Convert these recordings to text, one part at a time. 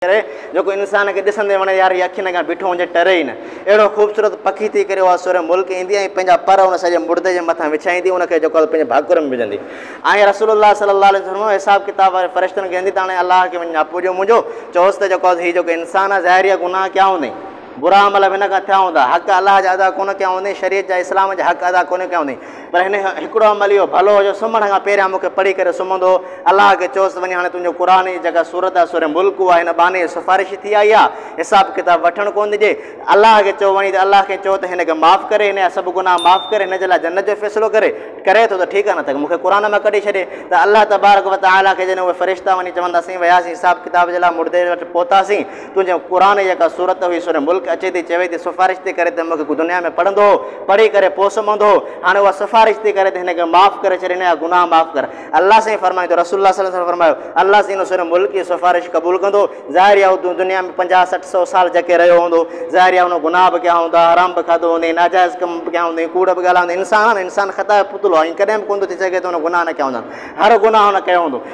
ڪري، جيڪو انسان کي ڏسندي وڻي يار هي اکين اڳيان بيٺو هجي ٽري ئي نه. اهڙو خوبصورت پکي ٿي ڪري اها سورهيه ملڪ ايندي ۽ پنهنجا پر ان سڄي مڙدي جي مٿان وڇائيندي ان کي جيڪو آهي پنهنجي ڀاڪر ۾ وجهندي ۽ رسول الله صلي الله عليه وسلم فرمايو حساب ڪتاب واري فرشتن کي ويندي ته هاڻي الله کي وڃي ناپو ڏيو منهنجو چئوس ته جيڪو آهي هي جيڪو انسان آهي ظاهر اها گناهه ڪيا هوندئي برا عمل به هن کان ٿيا هوندا حق الله جا ادا ڪونه ڪيا هوندئي شريعت جا اسلام جا حق ادا ڪونه ڪيا هوندئي پر هن هڪڙو عمل اهو ڀلو هو جو سمهڻ کان پهريان مون کي پڙهي ڪري سمهندو هو. الله کي چوس ته وڃي هاڻي تنهنجو قرآن جي جيڪا سورت آهي سورة ملڪ اها هن ٻانهي جي سفارش ٿي آئي آهي. حساب ڪتاب وٺڻ ڪونه ڏجي. الله کي چئو وڃي ته الله کي چئو ته هن کي معاف ڪري، هن جا سڀ گناهه معاف ڪري، هن جي لاء جنت جو فيصلو ڪري. ڪري ٿو ته ٺيڪ آهي نه ته مون کي قرآن مان ڪڍي ڇڏي. ته الله تبارڪ وتعاليٰ کي جڏهن اهي فرشتا وڃي چوندا اسين وياسين حساب ڪتاب جي لاء مڙدي وٽ پهتاسين. تنهنجي قرآن جي جيڪا سورت هئي سورة ملڪ اچي ٿي چوي ٿي سفارش ٿي ڪري ته مونکي دنيا ۾ پڙهندو هو پڙهي ڪري پوء سمهندو هو هاڻي اها سفارش ٿي ڪري ته هن کي معاف ڪري ڇڏ هن جا گناهه معاف ڪر الله سائين فرمائي ٿو رسول الله صلي الله عليه وسلم فرمايو الله سائين هن سورة ملڪ جي سفارش قبول ڪندو ظاهر اها هو دنيا ۾ پنجاهه سٺ سو سال جهڪي رهيو هوندو ظاهر اها هن گناهه به ڪيا هوندا حرام به کاڌو هوندي ناجائز ڪم به ڪيا هوندي ڪوڙ به ڳالهايا هوندي انسان آهي نه انسان خطا جو پتلو آهي ڪڏهن به ڪونه ٿي سگهي ته هن گناهه نه ڪيا هوندا هر گناهه هن ڪيو هوندو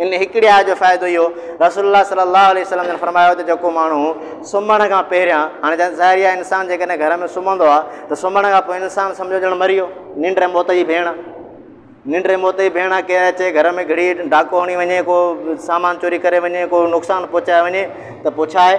ان هڪڙي آيت جو فائدو اهو رسول الله صلي الله عليه وسلم جن فرمايو ته جيڪو ماڻهو سمهڻ کان پهريان هاڻي جن ظاهري آهي انسان جيڪڏهن گهر ۾ سمهندو آهي ته سمهڻ کان پوء انسان سمجھو ڄڻ مري ويو ننڊ ۽ موت جي ڀيڻ ننڊ ۽ موت جي ڀيڻ ڪير اچي گهر ۾ گھڙي ڊاڪو هڻي وڃي ڪو سامان چوري ڪري وڃي ڪو نقصان پهچائي وڃي ته پڇائي